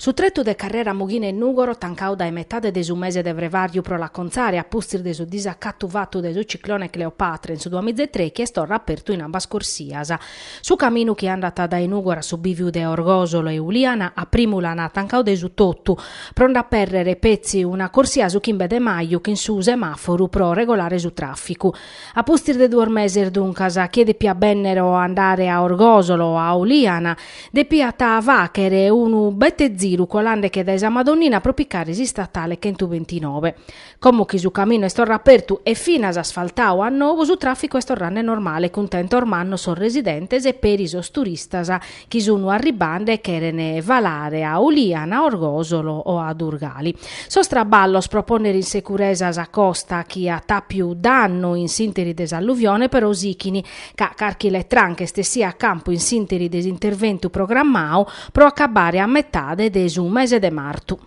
Su tretu de carrera Mughina 'e Nùgoro tancadu dae metade de su mese de frevàriu pro l'acontzare a pustis de su disacatu fatu dae su ciclone Cleopatra in su duamizatrèichi est torra apertu in ambas corsias. Su caminu chi andat dae Nùgoro a su bìviu de Orgòsolo e Uliana a primu l'an tancadu de su totu pro nde apèrrere petzi una corsia su chimbe de maju chin su semàforu pro regolare su tràficu. A pustis de duos meses duncas, chie depiat bènnere o andare a Orgòsolo o a Uliana depiat fàghere unu bete ziru colande che dae sa Madonnina pro picare s'istatale chentubentinobe. Como chi su caminu est torra apertu e finas asfaltadu a nou su tràficu est torrande normale cuntentos mannos sos residentes e peri sos turistas chi sun arribande e cheren falare a Uliana, a Orgòsolo o a Durgali. Sos traballos pro pònnere in securesa sa costa chi at àpiu dannu in s'ìnteri de s'alluvione però sichini ca carchi letranca est essida a campu in s'ìnteri de s'interventu programmadu pro acabare a metade de su mese de martu.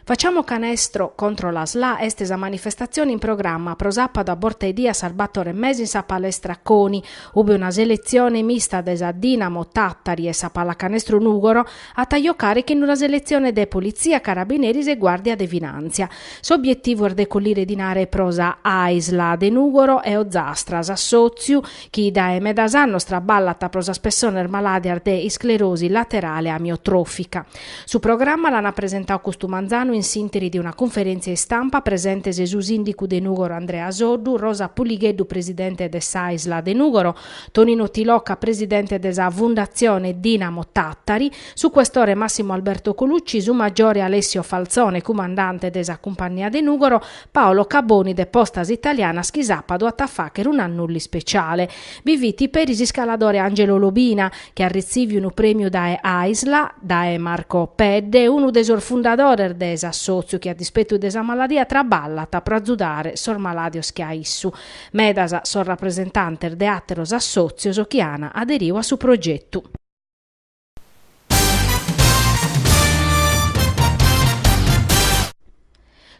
Facciamo canestro contro la SLA est sa manifestatzione in programma pro sàpadu a borta 'e die a sas bator e mesa in sa Palestra Coni, ube una seletzione mista de sa Dinamo Tàtari e sa Pallacanestro Nùgoro at a jocare chin una seletzione de Politzia, Carabineris e Guàrdia de Finàntzia. S'obietivu est de collire dinare pro sa Aisla de Nùgoro e Ozastra, s'assòtziu chi dae medas annos traballat pro sas pessones malàdias de isclerosi laterale amiotròfica. Su programma l'an apresentadu custu manzanu in s'ìnteri de una cunferèntzia istampa presentes su sìndicu de Nùgoro Andrea Soddu, Rosa Puligheddu presidente de s'Aisla de Nùgoro, Tonino Tilocca presidente de sa Fundatzione Dinamo Tàtari, su questore Massimo Alberto Colucci, su magiore Alessio Falzone cumandante de sa Cumpannia de Nùgoro, Paolo Caboni de Postas Italianas chi sàpadu at a fàghere un'annullu ispeciale. Bi fit peri s'iscaladore Angelo Lobina chi at retziviu unu prèmiu dae Aisla, dae Marco Pedde, unu de sos fundadores de s'assòtziu chi a dispetu de sa maladia traballat pro azudare sos malàdios che a issu Medas sos rapresentantes de àteros assòtzios chi an aderiu a su progetu.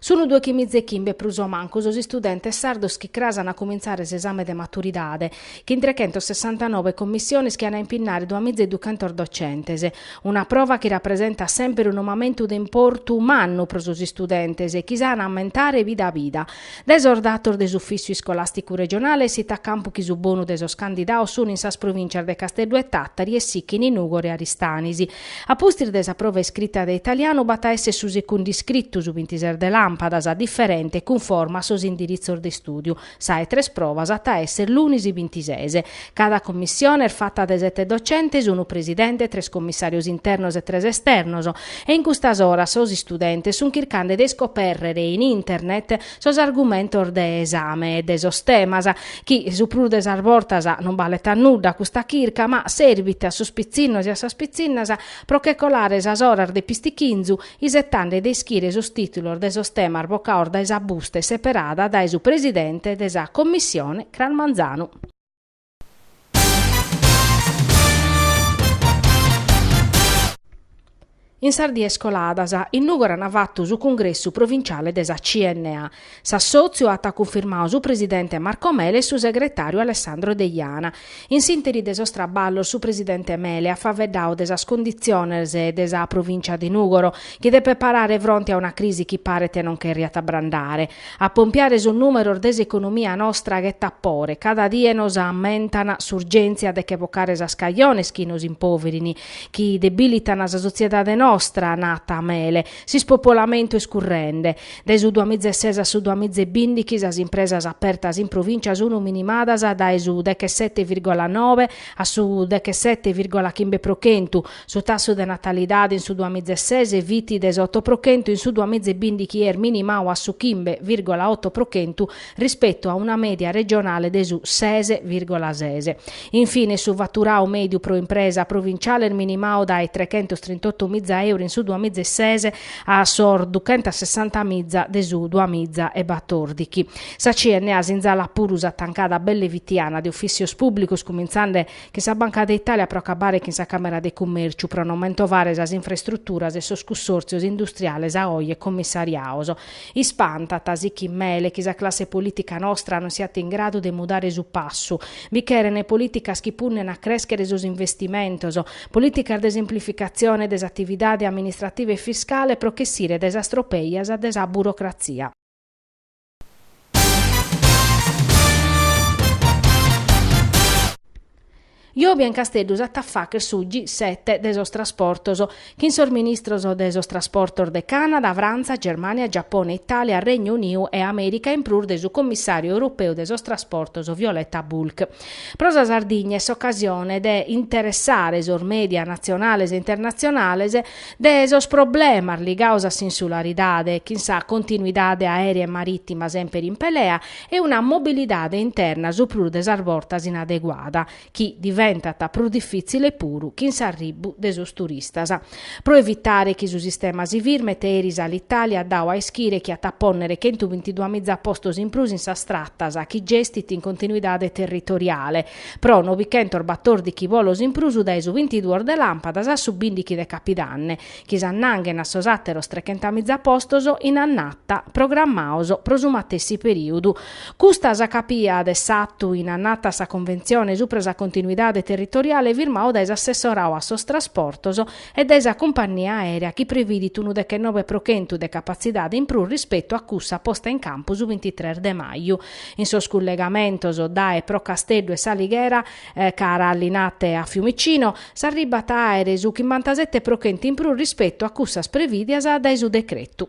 Sun dòichimiza e chimbe prus o mancu sos istudentes sardos chi cras an a cumintzare s'esame de maturidade, chin trechentossessantanove commissiones chi an a impinnare duamiza e duchentos docentes. Una prova chi rapresentat semper unu mamentu de importu mannu pro sos istudentes e chi s'an a ammentare vida a vida. Dae sos datos de s'Ufìssiu Iscolàsticu Regionale essit a campu chi su bonu de sos candidados sun in sas provìncias de Casteddu e Tàtari e sighin Nùgoro e Aristanis. A pustis de sa prova iscrita de italianu b'at a èssere su segundu iscritu, su bintidues de làmpadas, diferente, cunforma a sos indiritzos de istùdiu. Sa 'e tres provas at a èssere lunis bintises. Cada commissione est fata de sete docentes, unu presidente, tres commissàrios internos e tres esternos, e in custas oras sos istudentes sunt chircande de iscopèrrere in internet sos argumentos de esame e de sos temas, chi su prus de sas bortas non balet a nudda custa chirca, ma serbit a sos pitzinnos e a sas pitzinnas pro che colare sas oras de pistichinzu, isetende de ischire sos tìtulos de sos temas bocados dae sa busta e seperada dae su presidente de sa commissione cras manzanu. In sas dies coladas, in Nùgoro an fatu su cungressu provinciale de sa CNA. S'assòtziu at cunfirmadu su presidente Marco Mele e su segretàriu Alessandro Deiana. In s'ìnteri de sos traballos su presidente Mele at faeddadu de sas conditziones de sa provìncia de Nùgoro, chi depet parare fronte a una crisi chi paret non cherriat abrandare. A pompiare sos nùmeros de s'economia nostra ghetat pore, cada die nos ammentan s'urgèntzia de che bocare sas cajones chi nos impoverin, chi debìlitan sa sotziedade nostra, nat Mele. S'ispopolamentu est currende. Dae su duamiza e ses a su duamiza e bindighi sas impresas apertas in provìncia sun minimadas dae su dechesete virgola nobe a su dechesete virgola chimbe pro chentu, Su tassu de natalidade in su duamiza e ses fit de s'oto pro chentu in su duamiza e bìndighi est minimadu a su chimbe virgola oto pro chentu rispetu a una mèdia regionale de su ses virgola ses. In fine su faturadu mèdiu pro impresa provinciale est minimadu dae trechentos trintoto miza euro in su duamiza e ses a sos duchentos sessanta miza de su duamiza e batòrdighi. Sa CNA sinzalat puru sa tancada belle fitiana de ufìssios pùblicos cumintzande chin sa Banca de Italia pro acabare chin sa Càmera de Cummèrciu pro non mentovare sas infrastruturas e sos cussòrtzios industriales a oje commissariados. Ispantat, sighit Mele, chi sa classe polìtica nostra non siat in gradu de mudare su passu. Bi cheren polìticas chi punnen a crèschere sos investimentos, polìticas de semplificatzione de s'atividade amministrativa e fiscale pro ch'essire dae sas tropèias de sa burocratzia. Jòbia in Casteddu s'at a fàghere su G7 de sos trasportos, chin sos ministros de sos trasportos de Cànada, Frantza, Germània, Giapone, Itàlia, Règnu Uniu e Amèrica in prus de su comissàriu europeu de sos trasportos Violeta Bulc. Pro sa Sardigna est s'ocasione de interessare sos mèdia natzionales e internatzionales de sos problemas ligados a s'insularidade, chin sa continuidade aèrea e marìtima semper in pelea e una mobilidade interna su prus de sas bortas inadeguada, chi diventat prus difìtzile puru chin s'arribu de sos turistas. Pro evitare chi su sistema si firmet eris Alitalia at dadu a ischire chi at a pònnere chentu bintiduamiza postos in prus in sas tratas chi gestit in continuidade territoriale, Pro novichentos batòrdichi bolos in prus dae su bintiduos de làmpadas a su bindichi de capidanne, chi s'annanghen a sos àteros trechentamìza postos in annata programmados pro su matessi perìodu. Custa s'acàpiat a s'atu in annata a sa conventzione subra sa continuidade territoriale firmadu dae s'assessoradu a sos trasportos e dae sa cumpannia aèrea chi previdit unu dechenove pro chentu de capatzidade in prus rispetu a cussa posta in campu su bintitres de maju in sos cullegamentos dae e pro Casteddu e s'Alighera, cara a Linate e Fiumicino, s'arribbat a àere su chimbantasete pro chent'in prus rispetu a cussas prevìdias dae su decretu.